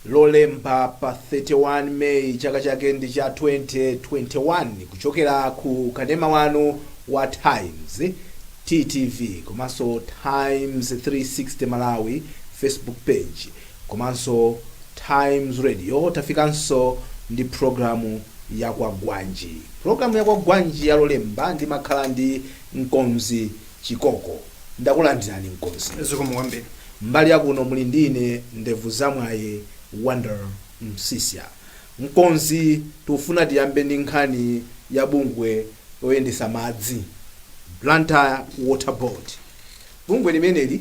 Lolemba pa 31 May chaka chake ndi cha 2021 kuchokera ku kanema wanu wa Times TTV komanso Times 360 Malawi Facebook page komanso Times Radio tafikanso ndi pulogalamu ya Kwagwanji. Pulogalamu ya Kwagwanji ya Lolemba ndimakhala ndi mkonzi Chikoko. Ndakulandirani mkonzi. Zikomo kwambiri. Mbali ya kuno muli ndi ine Ndevuzamwaye Wonder Msiska. Mkonzi, tikufuna tiyambe ndi nkhani ya bungwe loyendetsa madzi, Blantyre Water Board. Bungwe limeneli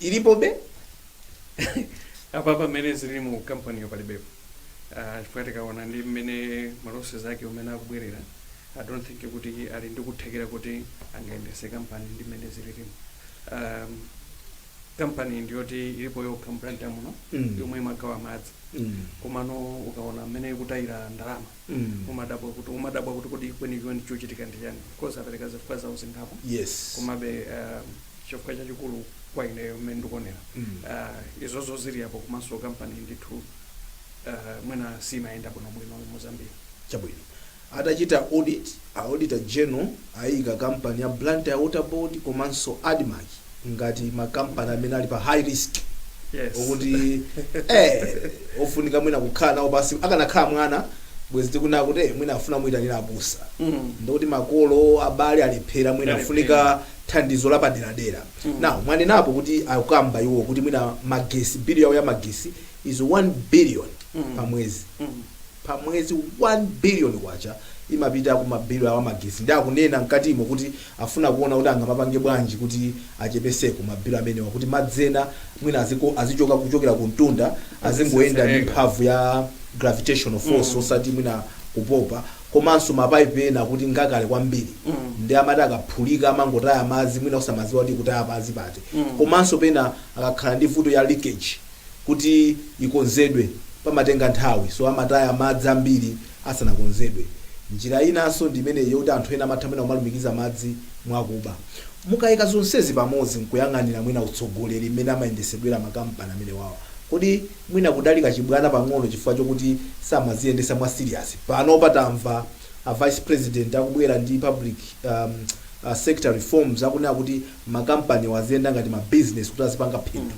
ilipobe apa pamene zili mu kampaniyo palibepo Ah, chifukwa tikaona ndi mmene malosses ake umene akubwerera i don't think kuti ali ndi kuthekera kuti angayendese kampani ndi mmene zililimu um, kampani ndiyoti ilipo yokha m'Blantyre muno Mm. yomwe imagawa madzi Mm. komano ukaona mmene ikutayira ndalama Mm. umadabwa kuti kodi kwenikweni chochitika ndi chani because apereka zifukwa zawo zingapo yes komabe um, chifukwa chachikulu kwa ineyo mmene ndikuonera Mm. uh, izozo zili apo komanso kampani ndithu uh, mwina simayenda bwinobwino mu zambia chabwino atachita audit auditor general ayika kampani ya blantyre water board komanso admarc ngati makampani amene ali pa high risk yes. okuti eh ofunika mwina kukhala nawo pansi akanakhala mwana bwezi tikunena kuti eh, mwina afuna kumuyitanira abusa Mm. ndikuti makolo abale alephera mwina Alephera. afunika thandizo lapaderadera now mwanenapo kuti akukamba iwo kuti mwina magesi bill yawo ya magesi is 1 billion pa mwezi pa mwezi 1 billion kwacha imapita ku mabilu awo amagesi ndi akunena mkatimo kuti afuna kuona kuti angamapange bwanji kuti achepeseko mabilu amenewa kuti madzi ena mwina azichoka kuchokera ku mtunda azingoyenda ndi Azisesereka. mphamvu ya gravitational force osati mwina kupopa komanso ma pipe ena akuti ngakale kwambiri nde amati akaphulika amangotaya madzi mwina osamadziwa kuti akutaya madzi pati komanso pena akakhala ndi vuto ya leakage kuti ikonzedwe pamatenga nthawi so amataya madzi ambiri asanakonzedwe njira inanso ndi imeneyi yoti anthu ena amatha mwina kumalumikiza madzi mwakuba mukaika zonsezi pamodzi nkuyang'anira mwina utsogoleri mmene amayendesedwera makampani amenewawa kodi mwina kudali kachibwana pang'ono chifukwa chokuti samaziyendesa mwa serious panopa tamva a vice president akubwera ndi public um, uh, sector reforms akunena kuti ma company wa aziyenda ngati ma business kuti azipanga phindu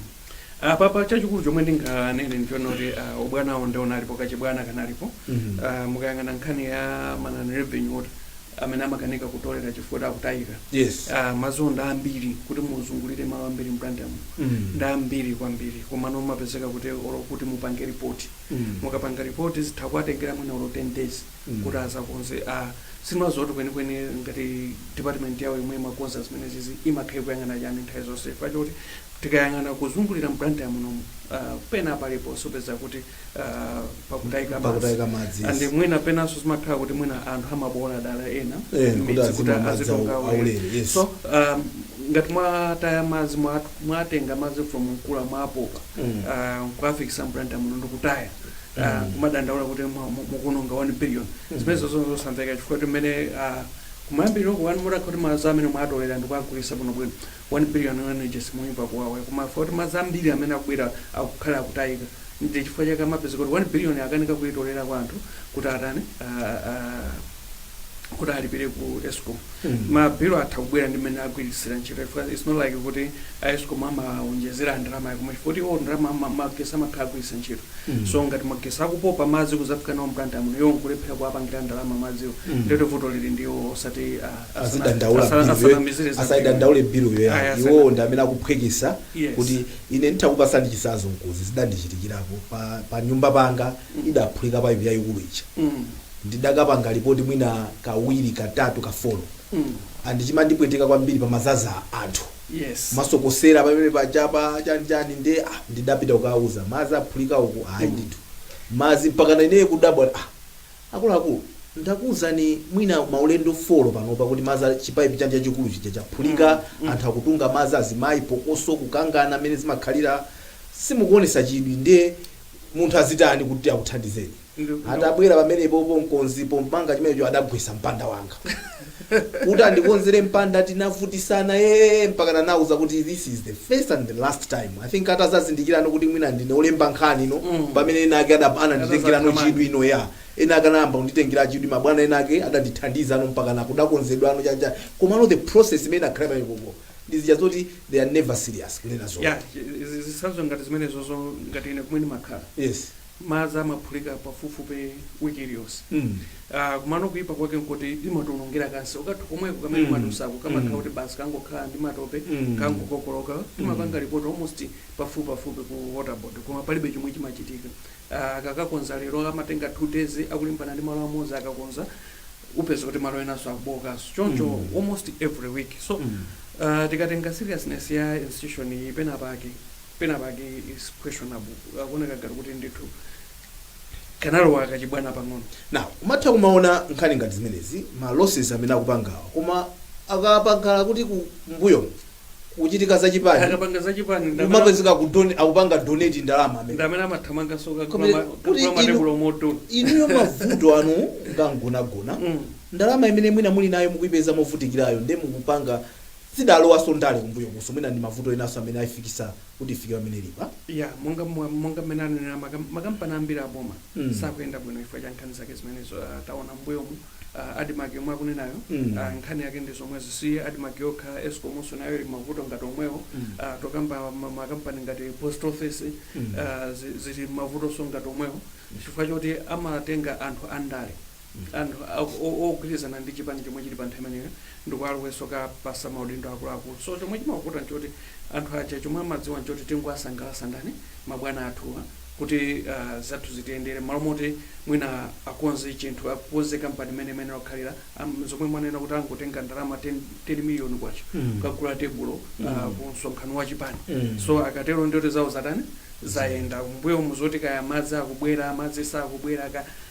apapa chachikulu chomwe ndinganene ndichonena kuti uh, ubwanawo ndiye unalipo kachibwana kanalipo Mhm. uh, mukayang'ana nkhani ya manani revenue kuti amene amakanika kutolera chifukwa akutayika yes ah, madzi ndi ambiri kuti muzungulire malo ambiri m'Blantyre muno mm. ndi ambiri kwambiri komano mumapezeka kuti olo kuti mupange ripoti mm. mukapanga ripoti zitha kuwatengera mwina olo 10 days mm. kuti adzakonze ah, si madzi oti kwenikweni ngati department yawo yomwe imakonza zimenezizi imakhala kuyang'ana chani nthawi zonse chifukwa choti tikayang'ana kuzungulira m'Blantyre munomu ah, pena paliponse upeza kuti ah, pakutayika pakutayika madzi madzi and mwina penanso zimakhala kuti mwina anthu amaboola dala ena Eh, kuti madzi azimwa madzi azitunga awu- ulere. aulere, yes. so um, ngati mwataya madzi mwa- mwatenga madzi from Nkula mwapopa Mm. ah, kuwafikitsa m'Blantyre muno ndikutaya ah, Mm. kumadandaula kuti mwa- mu- mukuononga 1 billion Mm. zimenezo zonse zosamveka chifukwa kuti mmene kumayambiriro kuja mutakha kuti madzi amene mwatolera ndikuwagulitsa bwinobwino 1 billion unwages simuyimva kuwawa e koma chifukwa choti madzi ambiri amene akubwera akukhala akutayika ndye chifukwa chake amapezeka kuti 1 billion akanika kuyitolera kwa anthu kuti atani aah kuti alipire ku escom ma bill atha kubwera ndi mmene agwiritsira ntchito chifukwa its not like kuti a escom amawonjezera ndalama koma chifukwa kuti iwo ndalama ama- magesi amakhala agwiritsa ntchito so ngati magesi akupopa madzi kudzafika nawo m'Blantyre muno iwo nkulephera kuwapangira ndalama madziwo ndye kuti vuto lili ndiwo osati ah, azidandaula Asana- bill yo- asanamizire za asayidandaule bill Ayi, yoyani asana- iwowo ndi amene akuphweketsa Yes. kuti ine nditha kukupatsani chitsanzo chifukwa izi zidandichitikirapo pa, pa nyumba panga idaphulika paipi yayikulu ija Mm. ndidakapanga lipoti mwina kawiri katatu kafolo Mm. and chimandipweteka kwambiri pamadzadza anthu yes amasokosera pamene akuchapa chanichani nde ah, ndidapita kukauza madzi aphulika uku ayi ndithu madzi mpaka naine kudabwa ah, Akuluakulu, ndakuuzani mwina maulendo folo panopa kuti madzi a, chipaipi chanu chachikulu chija chaphulika, anthu akutunga madzi, azimayi phokoso, kukangana mmene zimakhalira, simukuonetsa chidwi ndiye munthu azitani kuti akuthandizeni? Adabwera pamenepopo mkonzi pomanga chimenecho adagwetsa mpanda wanga. kuti andikonzere mpanda tinavutitsana ee mpakana anauza kuti this is the first and the last time i think atadzazindikirano kuti mwina ndine olemba nkhani no Mm. pamene ena ake adab- ananditengerano Atazakhamani. chidwi no ya ena ake anayamba kunditengera chidwi mabwana ena ake adandithandiza no mpakana kudakonzedwano chacha komano the process imene inakhala pamenepopo ndizija zoti they are never serious kunena zona ya zi- zi- zitsanzo ngati zimenezozo ngati ine kumene ndimakhala yes madzi amaphulika pafupifupi wiki iliyonse Mm. Ah, kumano kuipa kwake nkuti imatiwonongera kansewu kathu komweko kamene Mm. mwadutsako kamakhala Mm. kuti basi kangokhala ndi matope Mm. kangokokoloka timapanga lipoti almost pafupifupi ku waterboard koma palibe chomwe chimachitika Ah, akakakonza lero amatenga two days akulimbana ndi malo amodzi akakonza upeza kuti malo enanso akubowokanso choncho Mm. almost every week so Mm. ah, tikatenga seriousness ya institution iyi penapake penapake is questionable akuoneka ngati kuti ndithu kanalowa kachibwana pang'ono now umatha kumaona nkhani ngati zimenezi ma losses amene akupangawa koma akapangala kuti kumbuyo kuchitika zachipani akapanga zachipani ndamene- umapezeka kudoni akupanga donate ndalama amene ndamene amathamanganso Koma- kuti kakula inu- matebulo pomwe inuyo mavuto anu ngamgonagona Mm. ndalama imene mwina muli nayo mukuipeza movutikirayo nde mukupanga zidalowanso ndale kumbuyokuso mwina ndi mavuto enaso amene aifikisa kuti ifike pamene ilipa. Yeah, monga mwa- monga mmene anenera makam- makampani ambiri aboma Mm. sakuyenda bwino chifukwa cha nkhani zake zimenezo Ah, taona mbuyomu uh, admark yomwe akunenayo Mm. ah, nkhani yake ndi zomwezi si admark yokha escomonso nayo ili mavuto ngati omwewo Mm. Ah, tokamba ma- makampani ngati post office Mm. ah, zi- zili mavutonso ngati omwewo chifukwa choti amatenga anthu andale anthu ogwirizana ndi chipani chomwe chili pa nthawi imeneyo ndikuwalowesa kuwapasa maudindo akuluakulu so chomwe chimawavuta nchoti anthu aja chomwe amadziwa nchoti tingowasangalasa ndani mabwana athuwa kuti uh, zathu zitiyendere mmalo moti mwina akonze chinthu akonze kampani imene imene wakhalira um, zomwe mwanena kuti angotenga ndalama 10, 10 miliyoni kwacha Mm. kukagula tebulo uh, Mm. ku msonkhano wa chipani Mm. so akatero ndiye kuti zawo zatani zayenda mbuyo muzoti kaya madzi akubwera madzi sakubwera ka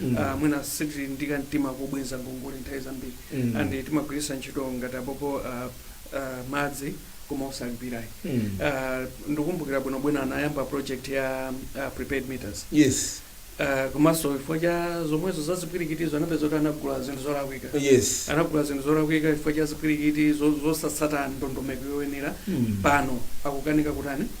Mm. Ah, mwina sitili ndi kamtima kobwenza ngongole nthawi zambiri Mm. and timagwiritsa ntchito ngati apopo ah, ah, madzi koma osalipirayi Mm. Ah, ndikumbukira bwinobwino anayamba project ya ah, prepaid meters yes Ah, komanso chifukwa cha zomwezo za zipwirikitizo anapezeka kuti anagula zinthu zolakwika yes anagula zinthu zolakwika chifukwa cha zipwirikiti zo- zosatsata ndondomeko yoyenera Mm. pano akukanika kutani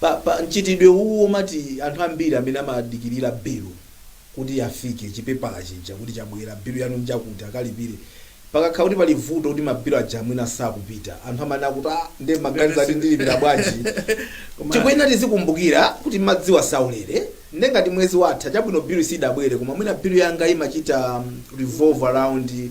Pa, pa, mchitidwe uwu womati anthu ambiri amene amadikirira bilu kuti ifike, chipepala chija kuti chabwera, bilu yanu njakuti, akalipire, pakakhala kuti pali vuto kuti ma bilu aja mwina sakupita, anthu amanena kuti ah, nde mmaganiza kuti ndilipira bwanji? Koma- Tikuyenera tizikumbukira kuti madziwa saulere, nde ngati mwezi watha, chabwino bilu sidabwere, koma mwina bilu yanga imachita mm, revolve around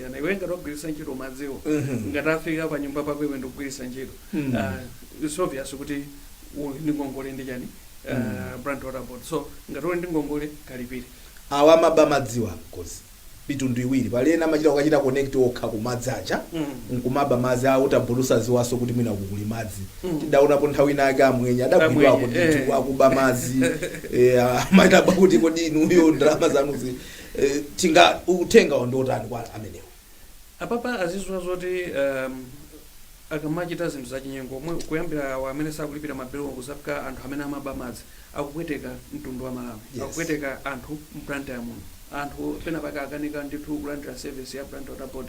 Yana, iwe ngati wagwiritsa ntchito madziwo Mhm. ngati afika pa nyumba pako iwe ndikugwiritsa ntchito Mm. Ah, it's obvious kuti uli ndi ngongole ndi chani Ah, Blantyre Water Board so ngati uli ndi ngongole kalipire awa amaba madziwa ali mitundu iwiri pali ena amachita kukachita connect okha kumadzi aja Mm. nkumaba madzi a water board osadziwanso kuti mwina kukuli madzi Mm. tidaonapo nthawi inayake amwenye adagwidwa Amwenye, kuti eh. akuba madzi eh, kumadabwa kuti kodi inuyo ndalama zanuzi Eh, ndiye uthenga wawo ndi otani kwa amenewo apapa aziziwa zoti um, akamachita zinthu zachinyengo omwe kuyambira awo amene sakulipira mabilowo kuzafika anthu amene amaba madzi akupweteka mtundu wa Malawi Yes. akupweteka anthu m'Blantyre muno anthu pena pake akukanika ndithu kulandira service ya Blantyre Water Board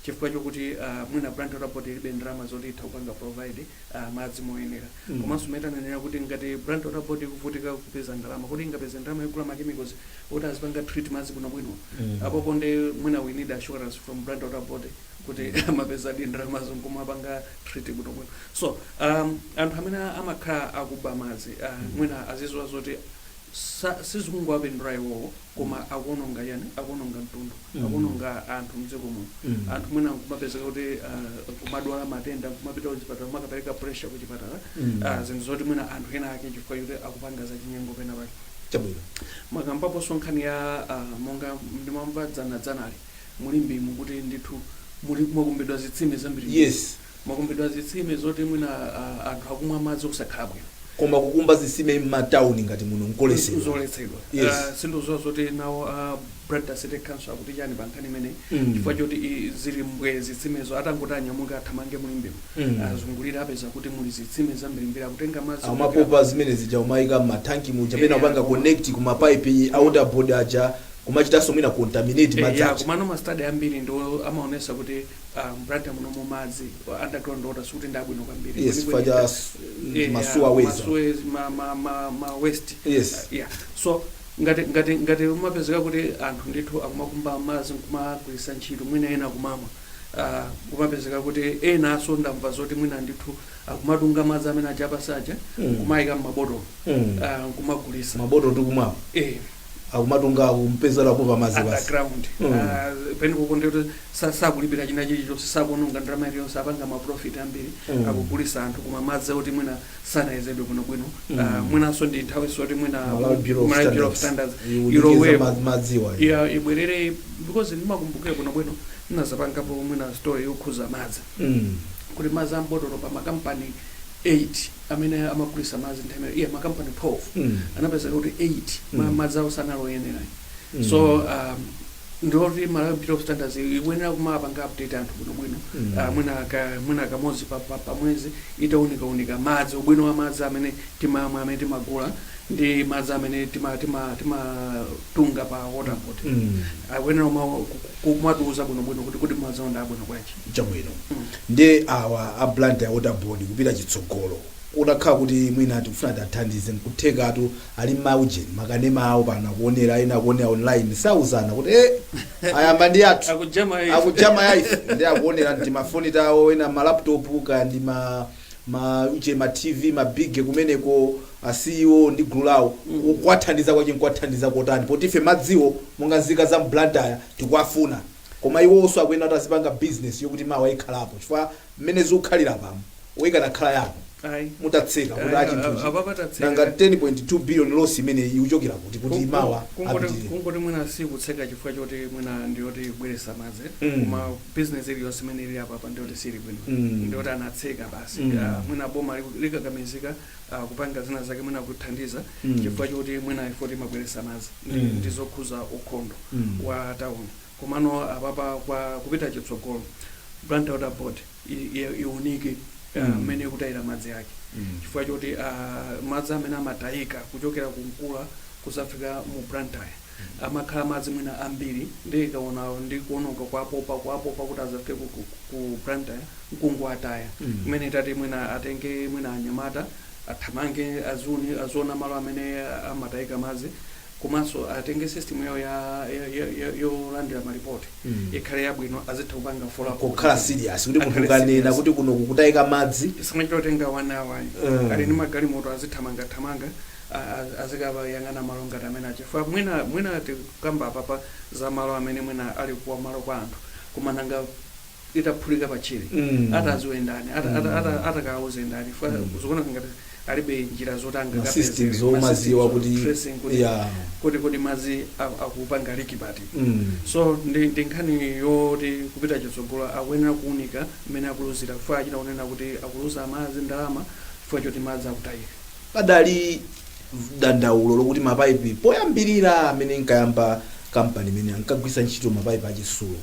chifukwa chokuti uh, mwina Blantyre Water Board ilibe ndalama zoti itha kupanga provide uh, madzi moyenera Mm. komanso mmene tanenera kuti ngati Blantyre Water Board ikuvutika kupeza ndalama kodi ingapeze ndalama yogula machemicals oti azipanga treat madzi bwino bwino apopo nde mwina we need assurance from Blantyre Water Board kuti amapezadi ndalama zoti nkumapanga treat bwino bwino so um, anthu amene amakhala akuba madzi uh, mwina aziziwa zoti sa- sizikungowapindula iwowo koma akuononga yani akuononga mtundu Mm. akuononga anthu mdziko muno Mm. anthu mwina kumapezeka kuti uh, kumadwala matenda kumapita kuchipatala kumakapereka pressure kuchipatala Mm. Ah, zinthu zoti mwina anthu ena ake chifukwa choti akupanga zachinyengo pena pake chabwino mwakambaponso nkhani ya ah, monga ndimamva dzana dzanali mu Limbemu kuti ndithu muli- mwakumbidwa zitsime zambiri yes mwakumbidwa zitsime zoti mwina ah, anthu akumwa madzi osakhala bwino koma kukumba zitsime m'matauni ngati muno nkoletsedwa zoletsedwa Yes. Ah, sindikuziwa zoti nawo a Blantyre City Council akuti chani pa nkhani imeneyi Mm. chifukwa choti i- zili bwenzi zitsimezo atangoti anyamuke athamange mu Limbemu Mm. azungulire apeza kuti muli zitsime zambirimbiri ukatenga madzi amapopa amene aja umayika m'mathanki muja pena Yeah. kupanga connect ku mapaipi a water board aja kumachitanso mwina contaminate madzi aja komano mastadi ambiri ndithu amaonesa kuti ah, m'Blantyre muno mu madzi ah, underground water sikuti ndi abwino kwambiri yes Kwenikweni faja ta- s- eh, masuwa ah, weza masuwe- ma- ma- ma- ma waste yes yeah so ngati ngati ngati umapezeka kuti anthu ndithu akumakumba madzi nkumagwirisa ntchito mwina ena kumamwa ah, kumapezeka kuti enanso ndamva zoti mwina ndithu akumatunga madzi amene aja apansi aja Mm. kumayika mmabotolo Mm. ah, kumagulisa mabotolo tikumwawa eh, akumatunga akungopezera kuba madzi basi underground Mm. Ah, pena pokondera kuti sa- sakulipira china chilichonse sakuononga ndalama iliyonse apanga maprofit ambiri Mm. akugulisa anthu koma madzi oti mwina sanayezedwe bwino bwino Mm. uh, mwinanso ndi nthawi zoti mwina Malawi Bureau of Malawi Bureau of Standards. Standards Iwunikenso ilowepo. ma- madziwa iwo. ya ibwerere because ndimakumbukila bwino bwino ndinazapangapo mwina story yokhuza madzi Mm. kuti madzi a m'botolo pa makampani 8 amene amagulisa madzi nthawi imene ija makampani 12 Mm. anapezeka kuti 8 ma- Mm. madzi awo sanali oyenera Mm. so um, ndiloti malawi bureau of standards ikuyenera kumapanga update anthu bwinobwino Mm. Ah, mwina ka- mwina kamodzi pa- pa- pamwezi itaunikaunika madzi ubwino wa madzi amene timamwa amene timagula ndi madzi amene timatunga tima, tima timatunga pa water board Mm. akuyenera kuma- ku- kumatiuza bwinobwino kuti kuti madzi awo ndi abwino bwanji chabwino Mm. ndi awa a blantyre water board kupita chitsogolo utakhala kuti mwina tikufuna tathandize nkuthekatu Ali mma ujeni makanema awo pano akuonera ena akuonera online sauzana kuti eh ayamba ndi athu Akujama ife. akujama ya ife ndi akuonera ndi mafoni tawo ena ma laptop ka ndi ma ma uje ma TV ma bige kumeneko a CEO ndi gulu lawo kuwathandiza kwake nkuwathandiza kotani poti ife madziwo monga nzika za Blantyre tikuwafuna koma iwonso akuyenera kuti azipanga business yokuti mawa ikhalepo chifukwa mmene zikukhalira pamw o ikanakhala yanu Ayi. mutatseka kuti Ayi, a chinthuchi a- apapa tatseka. nanga 10.2 billion loss imeneyi ikuchokera kuti kuti mawa apitirire kungoti mwina sikutseka chifukwa choti mwina ndiyoti kubweresa madzi Mm. koma bizinesi iliyonse imene ili apapa ndiyoti sili bwino Mm. ndiyoti anatseka basi Mm. Ah, mwina boma liku- likakamizika ah, kupanga zina zake mwina kuthandiza Mm. chifukwa choti mwina poti imabweresa madzi Mm. ndi zokhuza ukhondo Mm. wa tauni Komano apapa kwa kupita chitsogolo Blantyre Water Board iwunike mmene ikutayira madzi ake chifukwa choti madzi amene amatayika kuchokera ku Mkula kuzafika mu Blantyre amakhala madzi mwina ambiri ndiye ikaona ndi kuwononga kuwapopa kuwapopa kuti azafike ku Blantyre nkungowataya kumene itati mwina atenge mwina anyamata athamange aziwona malo amene amatayika madzi komanso atenge system yawo ya, ya, ya, ya, yolandira malipoti Mm. ikhale yabwino azitha kupanga follow up kukhala serious kuti munthu Akhale ukanena serious. kuti kuno kukutayika madzi isamachita kutenga 1 hour ayi Mm. ali ndi magalimoto azithamangathamanga a- a- azikabayang'ana malo ngati amenewa chifukwa mwina mwina tikukamba apapa za malo amene mwina ali kwa malo kwa anthu koma nanga itaphulika pa tchire Mm. ataziwe ndani ati- ati- ati- atakauze ndani Fa- zikuoneka ngati alibe njira zoti Ma angakapeze systems zomaziwa systems of kuti- tracing kuti- yeah. kuti kodi madzi a- akupanga liki pati Mm. so ndi ndi nkhani yoti kupita chitsogolo akuyenera kuunika mmene akuluzira chifukwa achita kunena kuti akuluza madzi ndalama chifukwa choti madzi akutayika padali dandaulo lokuti mapaipi poyambirira mmene inkayamba kampani imeneyi ankagwisa ntchito mapaipi achisulo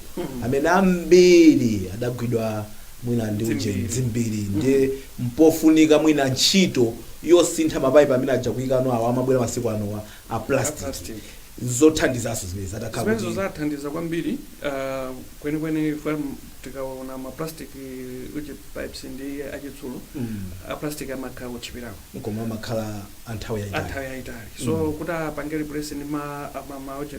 amene ambiri adagwidwa mwina ndi uje Dzimbiri. dzimbiri ndiye mpofunika mwina ntchito yosintha mapaipi amene aja kuikano awo amabwera masiku anowa a plastic plastic. nzothandizanso zimenezo zitakhala zimenezo kuti zizathandiza kwambiri ah, kwenikweni ifwe m- tikaona ma plastic uje pipes ndi achitsulo Mm. a plastic amakhala otchipirako koma amakhala anthawi yayitali anthawi yayitali so Mm. kuti apange replace ndi ma ma- ma uje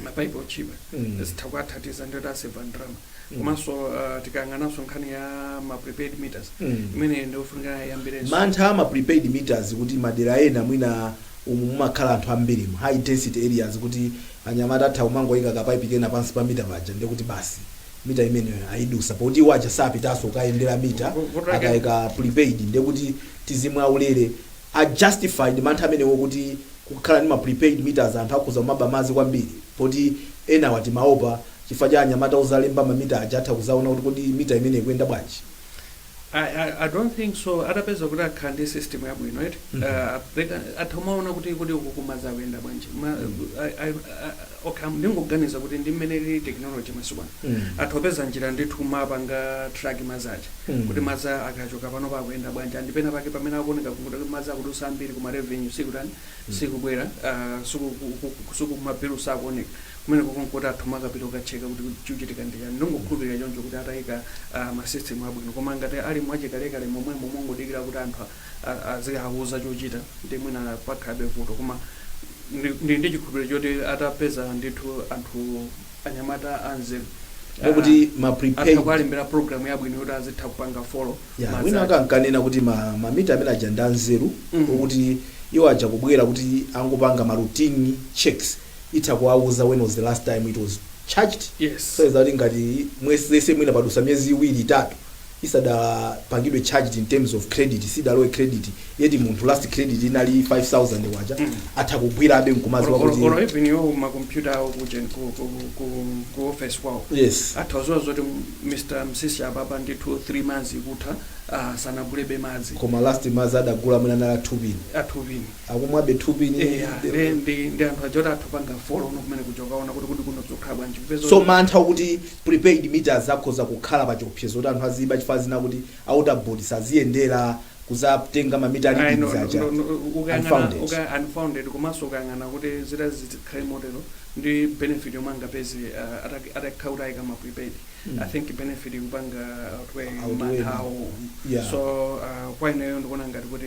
mapaipi otchipa Mm. zitha kuathandiza ndithu kuseva ndalama Mm. komanso uh, tikayang'ananso nkhani ya ma prepaid meters Mm. imeneyo ndiyofunika kwambirinso mantha ama prepaid meters kuti madera ena mwina umu mumakhala anthu ambiri mu high density areas kuti anyamata atha kumangoyika kapaipi kena pansi pa mita paja ndiye kuti basi mita imeneyo ayidutsa poti iwo aja sapitanso kukayendera mita Vo- voto lake- akayika prepaid ndiye kuti tizimwa ulere a justified mantha amenewo kuti kukhala ndi ma prepaid meters anthu akhoza kumaba madzi kwambiri poti enawa timaopa chifukwa cha anyamata ozalemba ma meter aja atha kuzaona kuti kodi meter imeneyi ikuyenda bwanji. I, I, I don't think so atapeza kuti akhala ndi system yabwino eti mm -hmm. uh, they can, atha kumaona kuti kodi uku kumadzi kukuyenda bwanji Ma, mm -hmm. I, I, I, okay ndingoganiza kuti ndi mmene ili technology masiku ano mm -hmm. atha kupeza njira ndithu kumapanga track madzi aja mm -hmm. kuti madzi akachoka pano akuyenda bwanji and pena pake pamene akuoneka kuti madzi akudutsa ambiri koma revenue sikutani mm -hmm. sikubwera uh, suku, suku mabilu sakuoneka Kumeneko nkuti atha kumapita kukatcheka kuti chikuchitika ndi chani. Ndingokhulupilira choncho kuti atayika ma system abwino. Koma ngati ali mwachikalekale momwemo mongodikira kuti anthu azikawuza chochita ndiye mwina pakhalabe vuto. Koma ndili ndi chikhulupiliro choti atapeza ndithu anthu anyamata anzeru Ndiye kuti ma prepaid atha kuwalembera program yabwino yoti azitha kupanga follow ya ma wina wake anzake. ankanena kuti ma ma meter amene aja ndi anzeru Mhm. okuti iwo aja kubwera kuti angopanga ma routine checks itha kuwauza when was the last time it was charged Yes. so that ngati mwezi mwina padutsa miyezi iwiri itatu isadapangidwe charged in terms of credit sidalowe credit yeti munthu last credit inali 5000 kwacha atha kugwirabe nkumadziwa Or- or- kuti or even iwo makompyuta awo kujen ku, ku, ku, ku office kwawo yes atha kudziwa zoti mr msisi apapa ndithu 3 months ikutha ah, sanagulebe madzi koma last madzi adagula mwina anali a 2 pin a 2 pin akumwabe 2 pin Eya, ndi ndi ndi anthu aja oti atha kupanga follow up kumene kuja kukaona kuti kodi kuno zikukhala bwanji kupeza so mantha okuti prepaid meters akhoza kukhala pa chiopsezo kuti anthu aziba chifukwa chonena kuti a water board saziyendera kuzatenga mamita Ayi, no, readings aja no, no, no, ukayang'ana- unfounded. uka- unfounded komanso ukayang'ana kuti zitati zikhale motero ndi benefit yomwe angapeze uh, ataki- atakhala kuti ayika ma prepaid i think benefit ikupanga outweigh Outweigh. manthawo Yeah. so uh, kwa ineyo ndikuona ngati kuti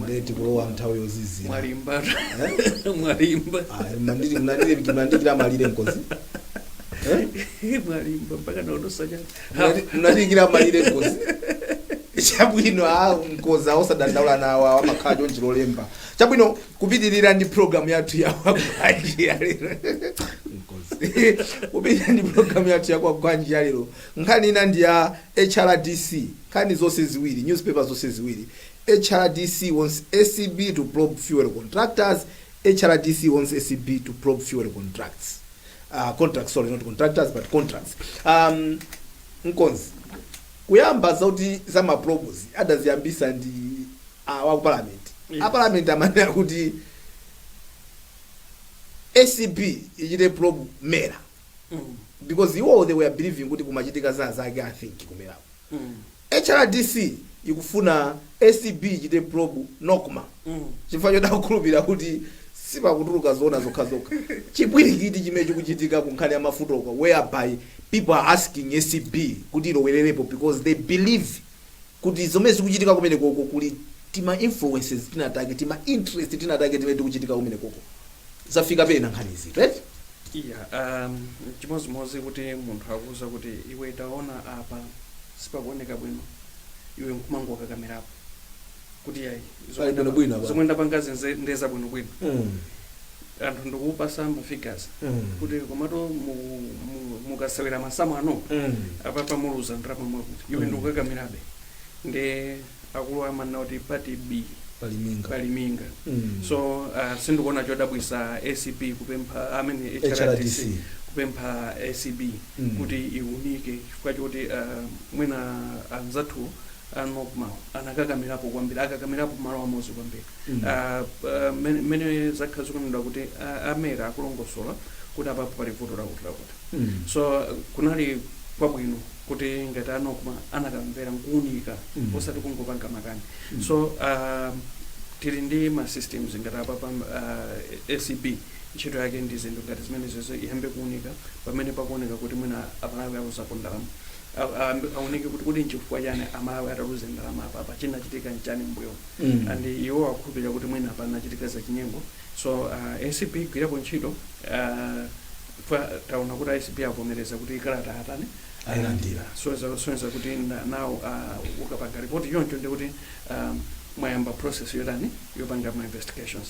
mandeti kulowa nthawi yozizira mwalimba mwalimba Ayi, mnandiri- mnandiri- mnandikira malire mkonzi Eh? mwalimba mpaka naonosa chani Mnandi- mnandikira malire mkonzi chabwino a mkonzi osadandaula nawo awo amakhala chonchi lolemba chabwino kupitirira ndi programu yathu yakwagwanji yalero Mkonzi. kupitirira ndi programu yathu yakwagwanji yalero nkhani ina ndi ya hrdc Nkhani zonse ziwiri, Newspaper zonse ziwiri, HRDC wants acb to probe fuel contractors, HRDC wants acb to probe fuel contracts, uh, contracts, sorry, not contractors, but contracts. Um, mkonzi, kuyamba zauti za ma probes adaziyambisa ndi uh, wa ku parliament. Yes. A parliament amanena kuti acb ichite probe mera Mm. because iwo they were believing kuti kumachitika zinazake i think kumerako hrdc ikufuna acb ichite probe nocma chifukwa choti akukhulupirira kuti sipakutuluka zoona zokhazokha chipwirikiti chimene chikuchitika ku nkhani ya mafuta uko whereby people are asking acb kuti ilowererepo because they believe kuti zomwe zikuchitika kumenekoko kuli tima influences tinatake tima interest tinatake timene tikuchitika kumenekoko zafika pena nkhanizi right yeah um, chimodzimodzi kuti munthu akuuza kuti iwe taona apa sipakuoneka bwino iwe nkumangokakamirapo kuti yayi Pali bwino bwino apa. zomwe ndapangazi nze- ndeza bwino bwino mm. anthu ndikupasa mafigures Mm. kuti komato mu- mu- mukasewera masamu ano mm. apapa muluza ndalama mwakuti iwe ndikukakamirabe ndi akulu amanena kuti pati bii pali minga pali minga Mm. so uh, sindikuona chodabwisa acb kupempha amene hrdc HRDC. kupempha acb Mm. kuti iunike chifukwa choti uh, mwina anzathu a nocma anakakamirapo kwambiri akakamirapo malo amodzi kwambiri Mm. Ah, ah, mene- mene zakhala zikunenedwa kuti ah, a mera akulongosola kuti apapo pali vuto lakuti lakuti Mm. so kunali kwabwino kuti ngati a nocma anakamvera nkuunika Mm. osati kungopanga makani Mm. so uh, tili ndi ma systems ngati apapa uh, acb ntchito yake ndi zinthu ngati zimenezo iyambe kuunika pamene pakuoneka kuti mwina amalawi aluzapo ndalama A- a- aunike kuti kodi nchifukwa chani amalawi ataluza ndalama apapa chinachitika nchani mbuyo Mm. and iwo akukhulupirira kuti mwina panachitika zachinyengo so uh, acb gwirapo ntchito uh, chifukwa taona kuti acb avomereza kuti kalata atani ailandira sonza sonza kuti na- nawo ah, ukapanga report choncho ndi kuti ah, mwayamba process yotani yopanga ma investigations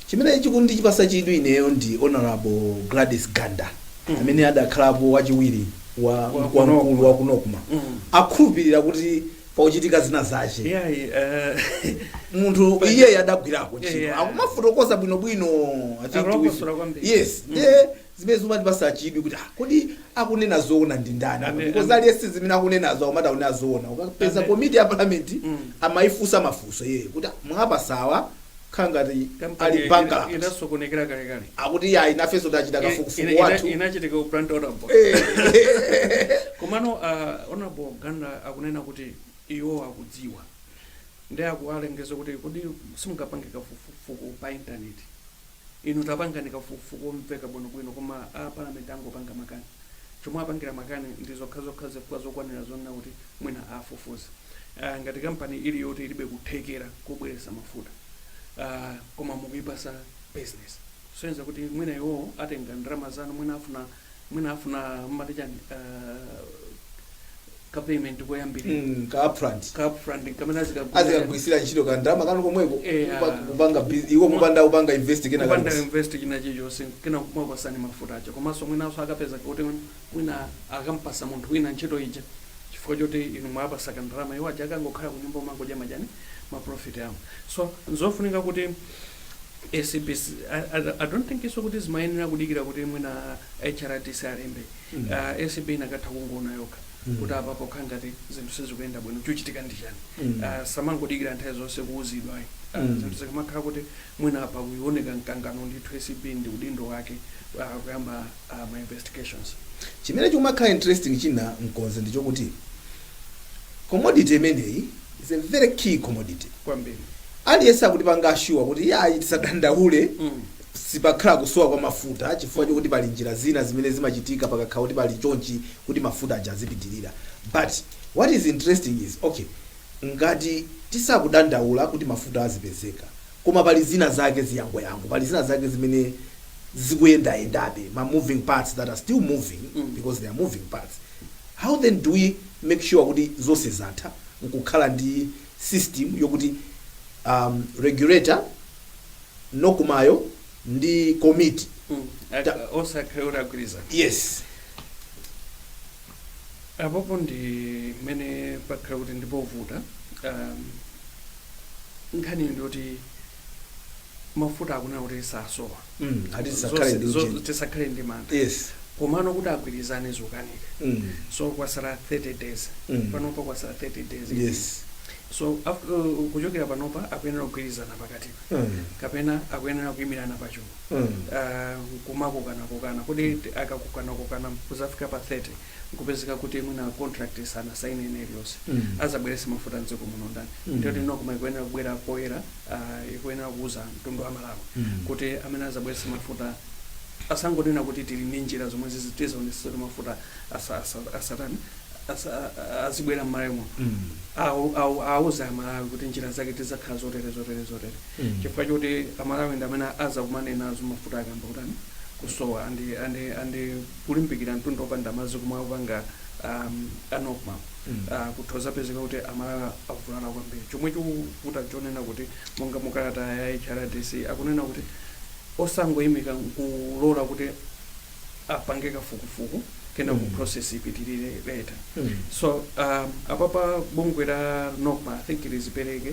chimene chikundipasa chidwi ineyo ndi honorable gladys ganda Mm. amene adakhalapo wachiwiri wa Wa wa kuno. mkulu wa ku nocma Mm. akhulupirira kuti pakuchitika zina zache iyayi eh, munthu iyeyo adagwirako ntchito Yeah. akumafotokoza bwinobwino I think Akulongosola with- kwambiri. yes ndiye zimene zimatipasa chidwi kuti ah, kodi akunena zoona ndi ndani Ame- because ame- aliyense zimene akunenazo akumati akunena zoona ukapeza Ame- komiti ya parliament Mm. amayifunsa mafunso iyeyo kuti ah, mwapasawa kukhala ngati Kampani ali ina- bankrupt inasokonekera kale kale akuti yayi nafenso tachita Ina- kafukufuku ina- wathu inachitika ku plant honorable komano uh, honorable Ganda akunena kuti iwo akudziwa ndi akuwalangiza kuti kodi simungapange kafukufuku pa intaneti Inu tapangani kafukufuku womveka bwino bwino koma a parliament angopanga makani. Chomwe apangira makani ndi zokhazokha zifukwa zokwanira zonena kuti mwina afufuze. Ngati company ili yoti ilibe kuthekera kobweresa mafuta koma mukuipasa business. Kusonyeza kuti mwina iwowo atenga ndalama zanu mwina afuna. mwina afuna mmati chani ka payment koyambirira Mm, ka upfront ka upfront kamene azikagwira azikagwirisira ntchito ka ndalama kanu komweko Eh, kupa- ah. kupanga bus- iwo kupanda kupanga invest kena kupanda kanu invest china chilichonse kena kumapasani mafuta aja komanso mwinanso akapeza kuti mwina akampasa munthu wina ntchito ija chifukwa choti inu mwapasa kandalama iwo aja akangokhala kunyumba kumangodya ma chani maprofit awo so nzofunika kuti ACB I don't think so kuti zimayenera kudikira kuti mwina HRDC alembe ACB inakatha kungoona yokha kuti apa pokha ngati zinthu sizikuyenda bwino chochitika ndi chani Ah, samangodikira nthawi zonse kuuzidwa ayi. Ah, zinthu zikamakhala kuti mwina apa kukuoneka mkangano ndithu ACB ndi udindo wake ah, kuyamba ah, ma investigations chimene chikumakhala interesting china mkonzi ndichokuti commodity imeneyi is a very key commodity kwambiri aliyense akutipanga ashuwa kuti yayi tisadandaule sipakhala kusowa kwa mafuta chifukwa chokuti pali njira zina zimene zimachitika pakakhala kuti pali chonchi kuti mafuta aja azipitirira but what is interesting is okay ngati tisakudandaula kuti mafuta azipezeka koma pali zina zake ziyangoyango pali zina zake zimene zikuyendayendabe ma moving parts that are still moving because they are moving parts how then do we make sure kuti zonse zatha nkukhala ndi system yokuti um, regulator NOCMA yo ndi komiti Mm. Ak- Ta- onse akhale kuti agwirizana yes apopo ndi mmene pakhala kuti ndipovuta um, nkhani ndiyoti mafuta akunena kuti sasowa Mm, ati tisakhale ndi Zo- zo- uchimo. tisakhale ndi mantha yes komano kuti agwirizane zokanika Mm. so kwasala 30 days Mm. panopa kwasala 30 days yes so af- uh, kuchokera panopa akuyenera kugwirizana pakatipa Mm. kapena akuyenera kuyimirana pachulu Mm. uh, kumakokana-kokana kuti akakokanakokana kuzafika pa 30 nkupezeka kuti mwina contract sanasaine ina iliyonse Mm. azabwerese mafuta mdziko muno ndani Mm. ndiye Nocma ikuyenera kubwera poyera uh, ikuyenera kuuza mtundu wa Amalawi Mm. kuti amene azabwerese mafuta asangonena kuti tili ndi njira zomwe tizaonesa kuti mafuta asa- asa- asatani asa- a- azibwera mmalawi muno Mm. Awu- awu- awuza amalawi kuti njira zake tizakhala zotere zotere zotere Mm. chifukwa choti amalawi ndi amene azakumane nazo mafuta akayamba kutani kusowa andi andi andi kulimbikira mtunda wopanda madzi komwe akupanga um, a Nocma Mm. uh, kuthoza kupezeka kuti amalawi avulala kwambiri chomwe chikuvuta chonena kuti monga mukalata ya hrdc akunena kuti osangoyimika, kulola kuti apange kafukufuku kenako Mm. process ipitirire later Mm. so um, apapa bungwe la Nocma i think lizipereke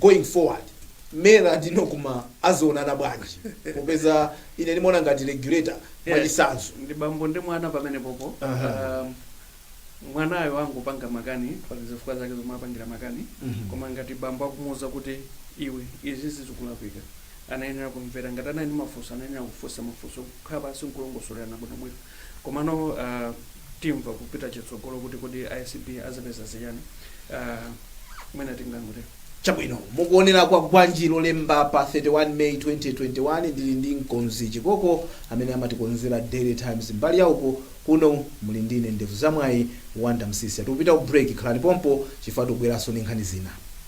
going forward mera ndi nocma azaonana bwanji popeza ine ndimaona ngati regulator mwachisanzo ndi bambo ndi mwana pamenepopo Aha. um, mwanayo angopanga makani pali zifukwa zake zomwe apangira makani Mhm. koma ngati bambo akumuuza kuti iwe izi zikulakwika anayenera kumvera ngati anali ndi mafunso anayenera kufunsa mafunso kukhala pansi nkulongosolerana bwinobwino Komano timva kupita chitsogolo kuti kodi acb azapeza zachani mwina tingangotero. Chabwino mukuonera Kwagwanji Lolemba pa 31 May 2021 ndili ndi mkonzi Chikoko amene amatikonzera Daily Times mbali yauko, kuno muli ndine ndevu za mwayi Wonder Msiska. Tikupita ku break khalani pompo chifukwa tikubweranso ndi nkhani zina.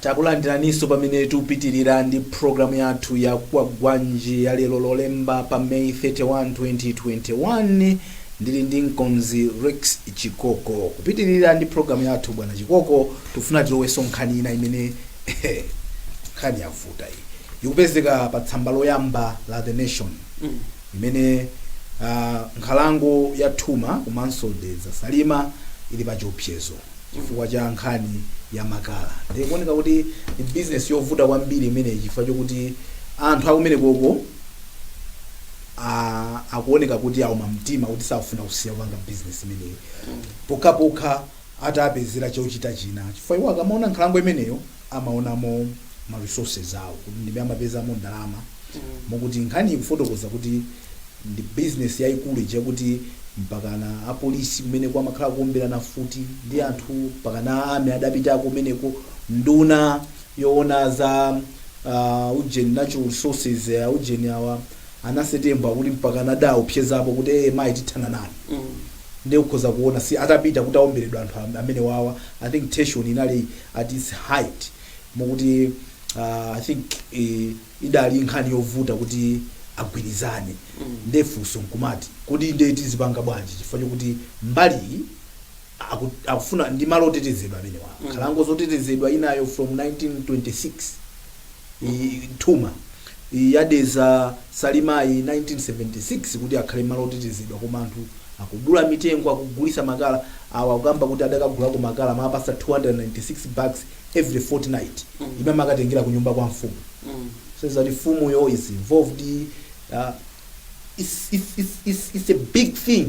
Takulandiraninso pamene tikupitilira ndi program yathu ya Kwagwanji ya lero Lolemba pa May 31, 2021. Ndili ndi mkonzi Rex Chikoko. Kupitilira ndi program yathu bwana Chikoko, tikufuna tilowenso nkhani ina imene nkhani yavuta iyi. Ikupezeka pa tsamba loyamba la The Nation. imene nkhalango ya Thuma komanso Dedza Salima ili pa chiopsezo chifukwa cha nkhani ya makala. Ndiye kuoneka kuti ndi business yovuta kwambiri imeneyi chifukwa chokuti anthu akumenekoko akuoneka kuti auma mtima kuti sakufuna kusiya kupanga business imeneyi pokhapokha atapezera chochita china chifukwa iwo akamaona nkhalango imeneyo amaonamo ma resources awo kuti ndi mmene amapezamo ndalama mokuti nkhani ikufotokoza kuti ndi business yaikulu chakuti mpakana apolisi kumeneko amakhala kuomberana mfuti ndi anthu mpakana a army adapitako kumeneko nduna yoona za uh, ujeni natural resources uh, ujeni awa a Nancy Tembo akuti mpakana adaopsezapo kuti ee mayi tithana nanu nde ukhoza kuona si atapita kuti aomberedwa anthu am, amenewawa i think tension inali at its height mokuti uh, i think uh, idali nkhani yovuta kuti agwirizane nde funso nkumati kodi nde tizipanga bwanji chifukwa chokuti mbali iyi aku- akufuna ndi malo otetezedwa amenewa nkhalango yotetezedwa inayo from 1926 i- thuma ya Dedza Salima yi 1976 kuti akhale malo otetezedwa koma anthu akudula mitengo akugulisa makala awa akukamba kuti adakagulako makala amawapasa 296 bags every fortnight imene amakatengela kunyumba kwa mfumu says that mfumu yo is involved uh, it's, it's, it's, it's, it's a big thing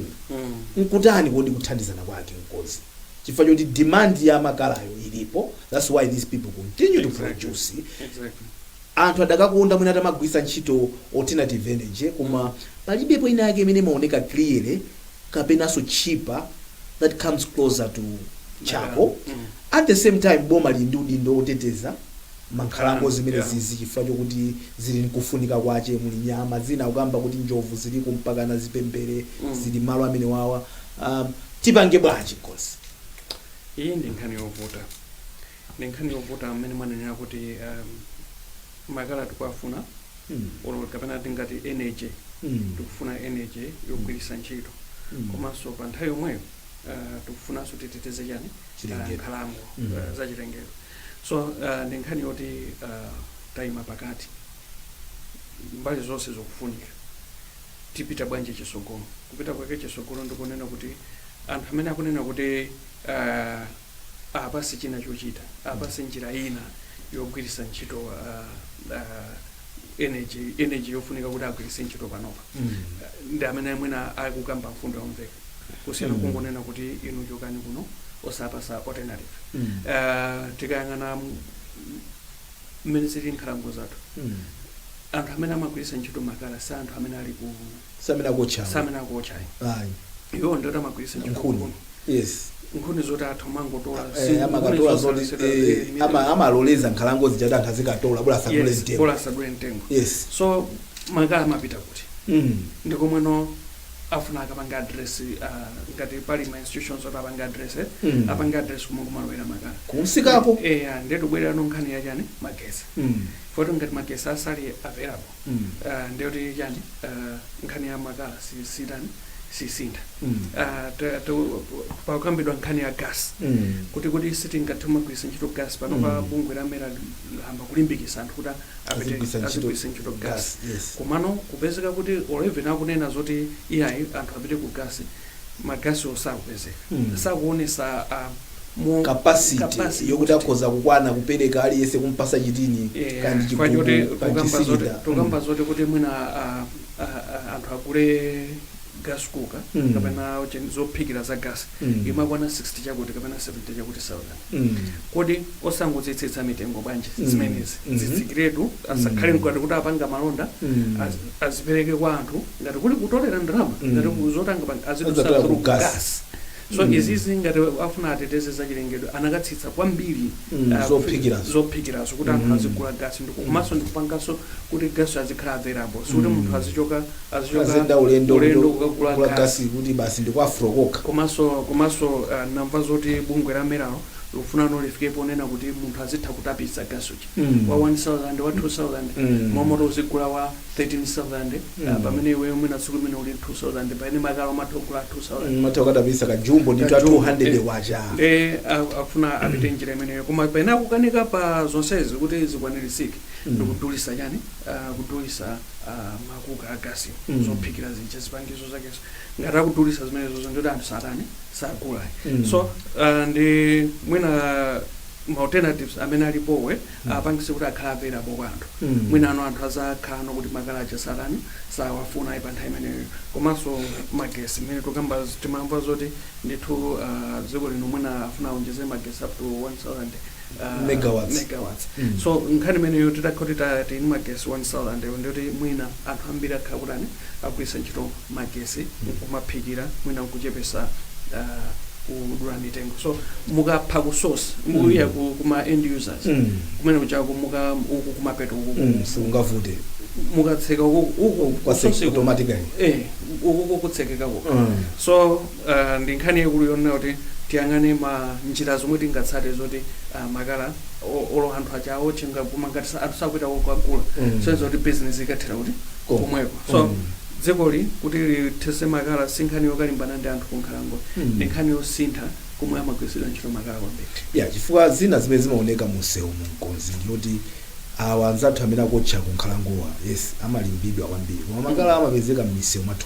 nkutani kodi kuthandizana kwake nkoti chifukwa choti demand ya makalayo ilipo that's why these people continue to produce Exactly. Anthu adakakonda mwina atamagwiritsa ntchito alternative energy koma palibepo ina yake imene imaoneka clearly kapenanso cheaper that comes closer to charcoal at the same time boma lili ndi udindo oteteza mankhalango zimenezizi chifukwa chokuti zili nkufunika kwache muli nyama zina kukamba kuti njovu ziliko mpakana zipembere zili malo amenewawa tipange bwanji coz iyi ndi nkhani yovuta. ndi nkhani yovuta mmene mwanenera kuti um, makala tikuwafuna Mm. olo kapena tingati energy Mm. tikufuna energy yogwiritsa ntchito Mm. komanso pa nthawi yomweyo uh, tikufunanso titeteze chani Chilengedwe. uh, nkhalango Mm. uh, za chilengedwe so uh, ndi nkhani yoti uh, tayima pakati mbali zonse zokufunika tipita bwanji chisogolo kupita kwake chisogolo ndikunena kuti anthu amene akunena kuti uh, apase china chochita apasidwe njira ina yogwiritsa ntchito uh, energy energy yofunika kuti agwiritse ntchito panopa ndi amene mwina akukamba mfundo yomveka kusiyana Mm. kungonena kuti inu chokani kuno osapasa alternative uh, tikayang'ana mmene zili nkhalango zathu Mm. anthu amene amagwiritsa ntchito makala si anthu amene ali ku samene akuotchawo samene akuotchayo ayi iwo ndoti amagwiritsa ntchito nkhuni nkhuni. yes nkhuni zoti anthu amangotola Eh, amakatola zoti eh, ama- amaloleza nkhalango zija kuti anthu azikatola bola asadule mtengo bola asadule mtengo yes so makala amapita kuti Mm. ndikomweno afuna akapange address uh, ngati pali ma institutions oti apange address eh? Mm. apange address kumwe kumalowera makala kumsikako eh, ah, nde tubwereranso nkhani ya chani magesi Mm. poti ngati magesi asali available Mm. uh, ndiyoti chani uh, nkhani ya makala si- sitani sisintha Mm. Ah, ta- ta- pakukambidwa nkhani ya gas Mm. kuti kodi sitingathe kumagwiritsa ntchito gas panopa Mm. bungwe la MERA layamba kulimbikitsa anthu kuti Azigwiritsa ntchito azigwiritsa ntchito gas, gasi yes. komano kupezeka kuti or even akunena zoti iyayi anthu apite ku gasi magasi osakupezeka Hmm. sakuonesa ah, mo- capacity capacity yokuti kuti- akhoza kukwana kupereka aliyense kumpasa chitini Eh, kandi chifukwa choti chigubu kandi tukamba zoti- chisilinda tukamba zoti kuti mwina ah, ah, ah, anthu agule gas cooker Mm. kapena chen- zophikira za gas Mm. imakwana 60 chakuti kapena 70 chakuti 1000 Mm. kodi osangozitsitsa mitengo bwanji Mm. zimenezi Mhm. zitsikiretu asakhale ngati kuti apanga malonda Mm. az- azipereke kwa anthu ngati kuli kutolera ndalama Mm. ngati ku- zotanga pa- Azataya azidutsa ku through gas. gas so Mm. izizi ngati afuna ateteze za chilengedwe anakatsitsa kwambiri Mm, ah, zophikirazo. zophikirazo kuti anthu Mm. azigula gasi ndi komanso ndikupangaso kuti gasi azikhala available sikuti Mm. munthu azichoka azichoka aziyenda ulendo ulendo kuti kukagula kugula gasi gasi kuti basi ndi kwa Afrox kokha komanso komanso ah, namva zoti bungwe la MERAlo likufunano lifike ponena kuti munthu azitha kutapitsa gasi uja Mm. wa 1000 wa 2000 Mm. mmalo moti uzigula wa 13000 ah, Mm. pamene iweyo mwina tsiku limene uli 2000 pamene makala umatha kugula 2000 umatha kukatapisa kajumbo ndithu ka Kajumbo, 200 eh. kwacha nde a- akufuna apite njira imeneyo koma pena akukanika pa zonsezi kuti zikwanirisike Mm. ndikudulisa chani ah, kudulisa ah, makuka a gasi Mm. zophikira zija zipangizo zakeso ngati akudulisa zimenezo ndoti anthu satani sagula Mm. so ah, ndi mwina ma alternatives amene alipowo Mm. apangise kuti akhala available kwa anthu Mm. mwinano anthu azakhalano kuti makala aja satani sawafuna ayi pa nthawi imeneyo komanso magesi mmene tukamba timamva zoti ndithu ah, dziko lino mwina afuna aonjezere magesi up to 1000 uh, Megawatts. megawatts. Mm. so nkhani imeneyo titakhala kuti tili ndi magesi 1000 ewo ndiyoti mwina anthu ambiri akhala akutani akugwiritsa ntchito magesi nkumaphikira mwina nkuchepesa uh, kudula mitengo so mukapha ku source mukusiya ku- kuma end users Mm. kumene kuchako muka uku kumapeto uku Mm, siungavute mukatseka uku uku Kwase- kusosi uku- automatically. eh uku kutsekeka uku Mm. so uh, ndi nkhani yaikulu yonena kuti tiyang'ane ma njira zomwe tingatsate zoti uh, makala o- olo anthu aja aotche nga- koma ngati sa- anthu sakupita kukagula Mm. so zoti business ikathera kuti Kom- komweko so Mm. dzikoli kuti lithese makala si nkhani yokalimbana ndi anthu kunkhalango Mm. ndi nkhani yosintha komwe amagwiritsidwa ntchito makala kwambiri ya chifukwa zina zimene zimaoneka munsewumu mkonzi ndiyoti awa anzathu amene akotcha kunkhalangowa yes amalimbidwa kwambiri koma makala amapezeka mmisewu mwathu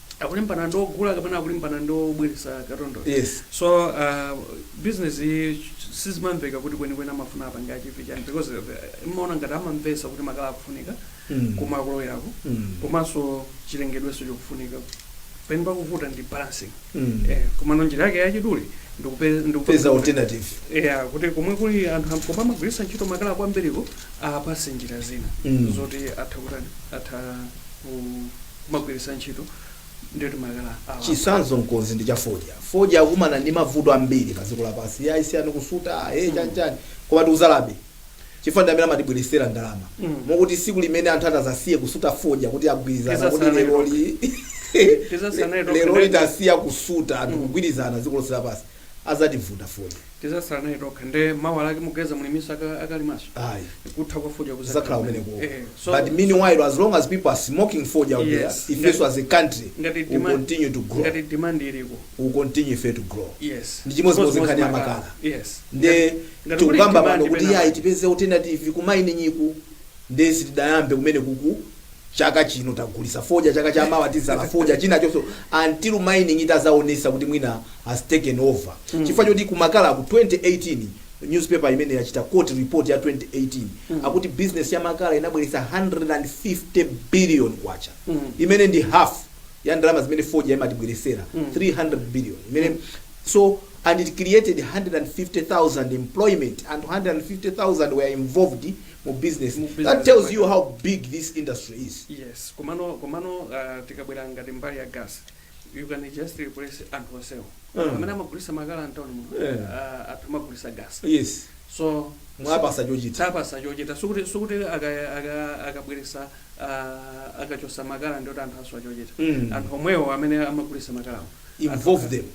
akulimbana ndi ogula kapena akulimbana ndi obweretsa katundu Yes. so uh, business sizimamveka kuti kwenikweni amafuna apange achieve chani because uh, imaoneka ngati amamvesa kuti makala akufunika Mm. koma akulowerako Mm. komanso chilengedweso chikufunika pene pakuvuta ndi balancing Mm. eh, komano njira yake yachidule ndikupe- ndikupe- peza alternative yeah, kuti komwe kuli anthu am- koma amagwiritsa ntchito makala kwambiriko apase njira zina Mm. zoti atha kutani atha kumagwiritsa ntchito ndiye kuti makala awa chisanzo mkonzi ndi cha fodya fodya akumana ndi mavuto ambiri pa dziko lapansi ya isiyani kusuta e chanchani koma tikuzalabe chifukwa ndi amene amatibweretsera ndalama Mm. mokuti siku limene anthu atazasiye kusuta fodya kuti agwirizana Tizasala kuti lero nayo li Tizasala nayo lero tokha. litasiya kusuta anthu kugwirizana dziko lonse lapansi azativuta fodya. Tizasala naye tokha nde mawa lake muganiza muliminso akalimaso? Ayi. Kutha kwa fodya kuzakhala kumeneko. Eh, so, But meanwhile so, as long as people are smoking fodya out there, yes, ifeso as a country we continue to grow. Ngati demand iliko. We continue ife to grow. Yes. Ndi chimodzimodzi nkhani ya makala. Yes. Nde tikukamba pano kuti yayi tipeze alternative ku mining iku nde sitidayambe kumene kuku chaka chino tagulisa fodya chaka cha mawa tizala fodya china chonso until mining itazaonesa kuti mwina has taken over chifukwa choti ku makala ku 2018 newspaper imene yachita quote report ya 2018 akuti business ya makala inabwelesa 150 billion kwacha imene ndi half ya ndalama zimene fodya imatibwelesera 300 billion imene so and it created 150,000 employment and 150,000 were involved mu business Mu business that tells mwake. you how big this industry is yes komano komano uh, tikabwera ngati mbali ya gas you can just replace anthu onsewo Mm. amene amagulisa makala mtawuni muno Yeah. uh, atha kumagulisa gas yes so mwapasa chochita tapasa chochita sikuti sikuti aka- aka- akabweresa ah, akachosa makala ndiye kuti anthu aswa chochita Mm. anthu omwewo amene amagulisa makalawo involve them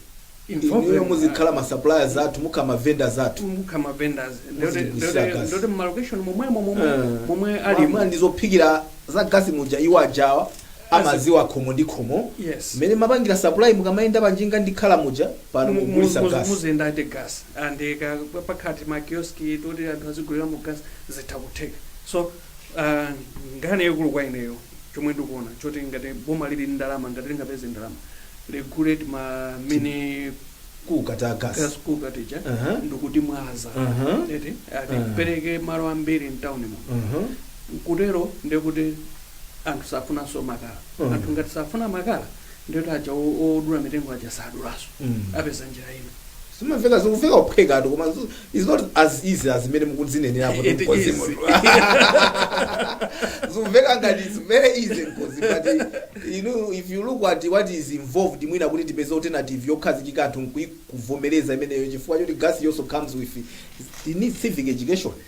inuyo muzikhala ma suppliers athu mukhala ma vendors athu mukhala ma vendors Muzitigulitsira gas. ndiye kuti mu location momwemo momwe Eh, momwe ali mwamunomu ndi zophikira za gasi muja iwo aja awa amaziwa khomo ndi khomo Yes. mmene mapangira supply mukamayenda panjinga ndi makala muja pano mugulisa gasi muziyenda eti gas and ka- pakhati ma kiosk toti anthu aziguliramo gas zitha kutheka so uh, nkhani yaikulu kwa ineyo chomwe ndikuona choti ngati boma lili ndi ndalama ngati lingapeze ndalama regulate ma mene kuka ta gas gas kuka tija Aha. ndikuti mwaza Aha. eti ati Aha. pereke malo ambiri mtown mo Mhm. kutero ndekuti anthu safunanso makala Mhm. anthu ngati safuna makala ndekuti aja o- odula mitengo aja sadulaso Mm. apeza njira ina zimamveka zikumveka uphwekatu koma zu- it's not as easy as mmene mukuzinenera kuti It mkonzi is. munthu zikumveka ngati it's very easy mkonzi but you know if you look at what is involved mwina kuti tipeze alternative yokhazikika anthu nkuivomereza imeneyo chifukwa choti gas also comes with it needs civic education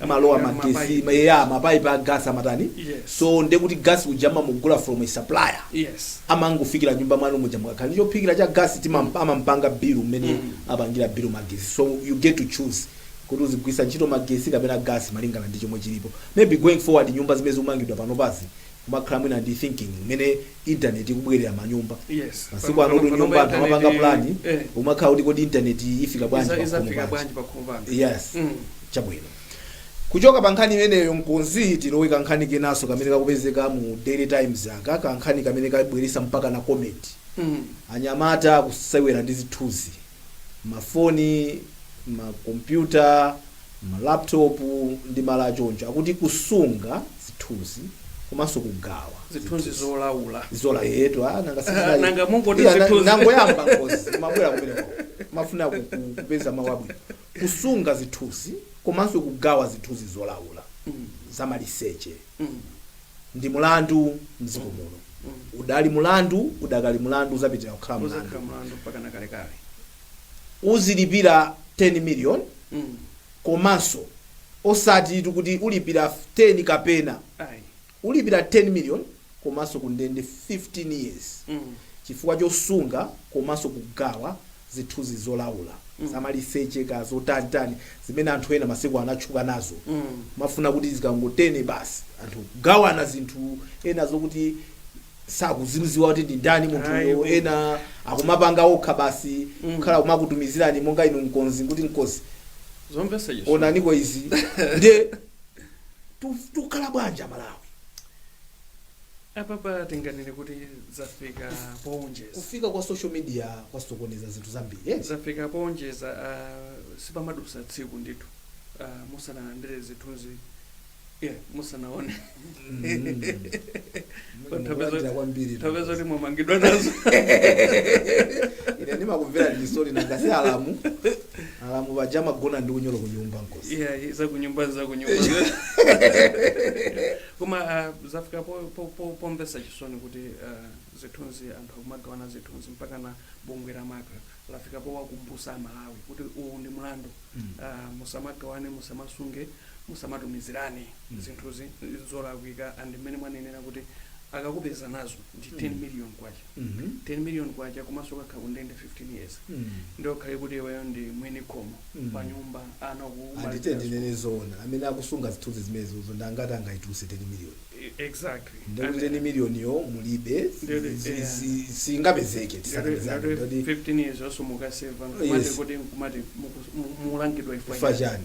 amalowa Yeah, magesi mapaipi. ma- yeah, mapaipi a gas amatani Yes. so nde kuti gas uja amamugula from a supplier yes amangofikira nyumba mwanu muja mukakhala ndi chophikira cha gas timam- amampanga bill mmene Mm. apangira bill magesi so you get to choose kuti uzigwiritsa ntchito magesi kapena gas malingana ndi chomwe chilipo maybe going forward nyumba zimene zikumangidwa panopazi kumakhala mwina ndi thinking mmene internet ikubwerera manyumba Yes. masiku Pano- ano tu pano- pano nyumba anthu internet- amapanga plani eh. umakhala kuti kodi internet ifika bwanji Iza- pakhomo izafika bwanji pakhomo panga yes Mm. chabwino kuchoka pa nkhani imeneyo mkonzi tilowe kankhani kenanso kamene kakupezeka mu daily times aka kankhani kamene kabweresa mpakana comment Mm. anyamata akusewera ndi zithunzi mafoni makompyuta ma laptop ndi malo achoncho akuti kusunga zithunzi komanso kugawa zithunzi zolaula zola yetu ah, nanga sinali- Nanga mungoti Iya, na- zithunzi. nangoyamba mkonzi mmabwera kumeneko mmafuna ku- ku- kupeza mawu abwino kusunga zithunzi komanso kugawa zithunzi zolaula zamaliseche ndi mulandu mdziko muno udali mulandu udakali mulandu uzapitira kukhala mulandu uzakhala mlandu mpakana kalekale uzilipira 10 million Mm. komanso osatitu kuti ulipira 10 kapena ayi ulipira 10 million komanso kundende 15 years Mm. chifukwa chosunga komanso kugawa zithunzi zolaula zamaliseche kaya zotanitani zimene anthu ena masiku ano atchuka nazo moti zikangotene basi anthu kugawana zinthu ena zokuti sakuzidziwa kuti ndi ndani munthuyo Ayiwo. ena akumapanga okha basi kukhala kumakutumizirani monga inu mkonzi kuti mkonzi zomvetsa chisoni. onaniko izi nde tu- tukhala bwanji amalawi apapa tinganene kuti zafika poonjeza kufika kwa social media kwasokoneza zinthu zambiri eh? zafika poonjeza uh, sipamadusa tsiku ndithu uh, musanalandire zithunzi yeah, musanaone tipeza zoti mwamangidwa nazo ine ndimakumvera chisoni nanga si alamu alamu paja amagona ndi unyolo ku nyumba mkonzi yeah, zakunyumba zakunyumba Koma zafika pomvetsa chisoni kuti zithunzi anthu akumagawana zithunzi mpakana bungwe la macra lafika powakumbusa a Malawi kuti uwu ndi mlandu musamagawane musamasunge musamatumizirane zithunzi zolakwika and mmene mwanenera kuti akakupeza nazo ndi 10 Mm. million kwacha Mhm. 10 million kwacha komanso kukakhala ku ndende 15 years Mm. ndiye ukhale kuti iweyo ndi mwini khomo Mm. pa nyumba ana anditu ndinene zoona amene akusunga zithunzi zimenezozo ndangati angaituluse 10 miliyoni exactly ndiye kuti 10 miliyoniyo mulibe si- Ndele, si- yeah. si- singapezeke tikakapezeka ndoti 15 years also mukaseva Yes. kumati kuti kumati muku- mu- mulangidwa chifa chani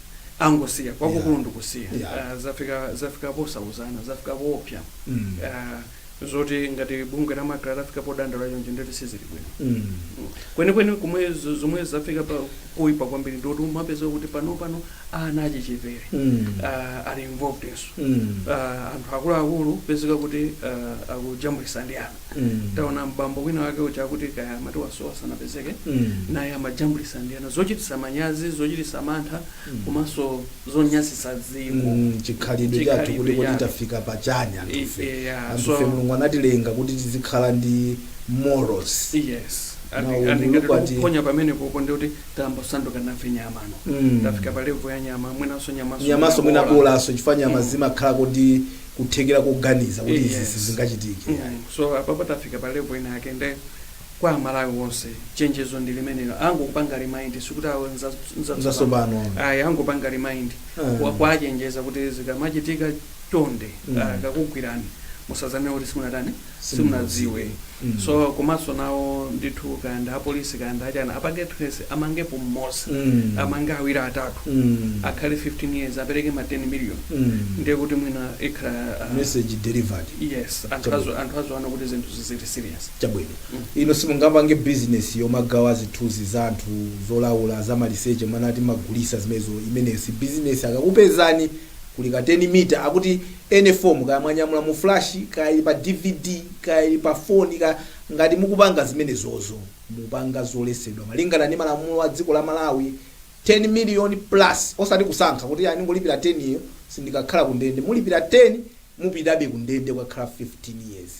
angosiya chachikulu Yeah. ndikusiya Yeah. Ah, zafika zafika posautsana zafika poopsa Mm. Ah, zoti ngati bungwe la macra lafika podandaula chonje ndoti sizili bwino Mm. kwenikweni kumwe zo- zomwe zafika pa kuipa kwambiri ndoti umapezeka kuti pano pano ana achichepere Mm. ah, ali involvednso Mm. Ah, anthu akuluakulu pezeka kuti ah, akujambulisa ndi ana Mm. taona bambo wina wake uja akuti kaya amati wasowa sanapezeke Mm. naye amajambulisa ndi ana zochitisa manyazi zochitisa mantha komanso zonyasisa dziko Mm, chikhalidwe Chikhalidwe chathu kuti kodi chathu. tafika pachani anthu I- fe yeah, anthu so- fe mulungu anatilenga kuti tizikhala ndi morals yes Na umunthu ndingati kwati- tikuphonya pamenepopo ndi kuti tambosanduka nafe nyama no Mm. tafika pa levo ya nyama mwinanso nyamaso nyamaso mwina bolanso chifukwa nyama Mm. zimakhala kuti kuthekera koganiza kuti izi Yes. sizingachitike yayi. Mm, so apapa tafika pa level ina yake nde kwa amalawi onse chenjezo ndi limenelo angopanga remind sikuti awo nza- nza- Nzatsopano. ayi angopanga remind Ah. Kwa- kuwachenjeza kuti zikamachitika chonde Mm. ah, akakugwirani musazane kuti simunatani simunadziwe so komanso nawo ndithu kaya ndi apolisi kaya ndi achani apange trace amangepo mmoza Mm. amange awiri atatu Mm. akhale 15 years apereke ma 10 million Mm. ndiye kuti mwina ikhala ah, message delivered yes anthu Chabwino. azo- anthu aziona kuti zinthu zizili serious chabwino Mm. ino simungapange business yomagawa zithunzi za anthu zolaula za maliseche mumanena kuti mumagulisa zimenezo imeneyo si business akakupezani kuli ka 10 mita akuti any form kaya mwanyamula mu flash kaya ili pa dvd kaya ili pa phone kaya ngati mukupanga zimenezozo mupanga zolesedwa malingana ndi malamulo a dziko la Malawi 10 million plus osati kusankha kuti ayi ndingolipira 10 yo sindikakhala ku ndende mulipira 10 mupitabe ku ndende kukakhala 15 years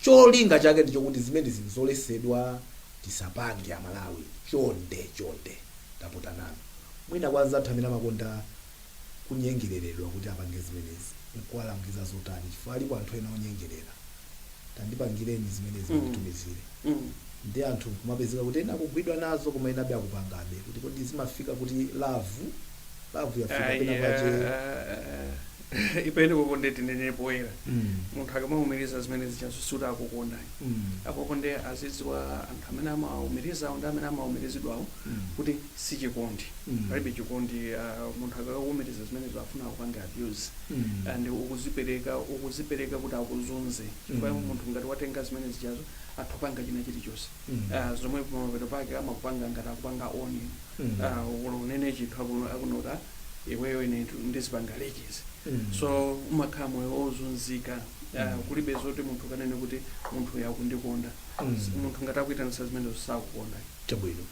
cholinga chake ndi chokuti zimenezi nzolesedwa tisapange amalawi chonde chonde tapota nanu mwina kwa anzathu amene amakonda kunyengereredwa kuti apange zimenezi, nkuwalangiza zotani chifukwa alipo anthu ena onyengerera. Tandipangireni zimenezi munditumizire. Ndiye anthu nkumapezeka kuti ena akugwidwa nazo koma enabe akupangabe kuti kodi zimafika kuti love, love yafika Ayi, pena pake ah, ah, i penekoko nde tinene poyera Mm. munthu akamaumiriza zimene zichazo sikuti akukondayo Mm. akoko nde azidziwa anthu amene amaumirizawo ndi amene amaumirizidwawo Mm. kuti si chikondi Mm. palibe chikondi ah, munthu akakuumiriza zimenezo afuna akupange abuse Mm. and ukuzipereka ukuzipereka kuti akuzunze chifukwa Mm. munthu ngati watenga zimene zijazi atha kupanga china chilichonse Mm. Ah, zomwe pamapeto pake amakupanga ngati akupanga own Mm. Ah, olo unene chinthu akuno- akunoka iweyo ine tu- ndizipanga release Mm. so umakhala moyo wozunzika Ah, Mm. kulibe zoti munthu ukanene kuti munthuyu akundikonda Mm. munthu ngati akuitanisa zimenezo sakukonda Chabwino.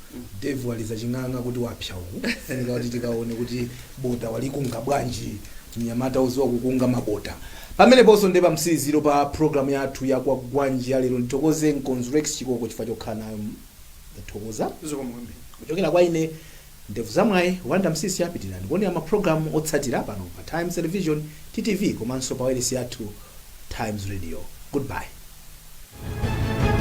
Dave waliza ching'ang'a kuti wapsa uku. Funika kuti tikaone kuti bota walikunga bwanji. Mnyamata oziwa kukunga mabota. Pameneponso nde pamtsiriziro pa program yathu ya Kwagwanji ya lero ndithokoze nkonze Rex Chikoko chifukwa chokhala nayo ndathokoza. Zikomo kwambiri. Kuchokera kwa ine Ndevu za Mwayi, Wonder Msiska pitirirani kuonera ma program otsatira pano pa Times Television, TTV, komanso pa wailesi yathu Times Radio. Goodbye.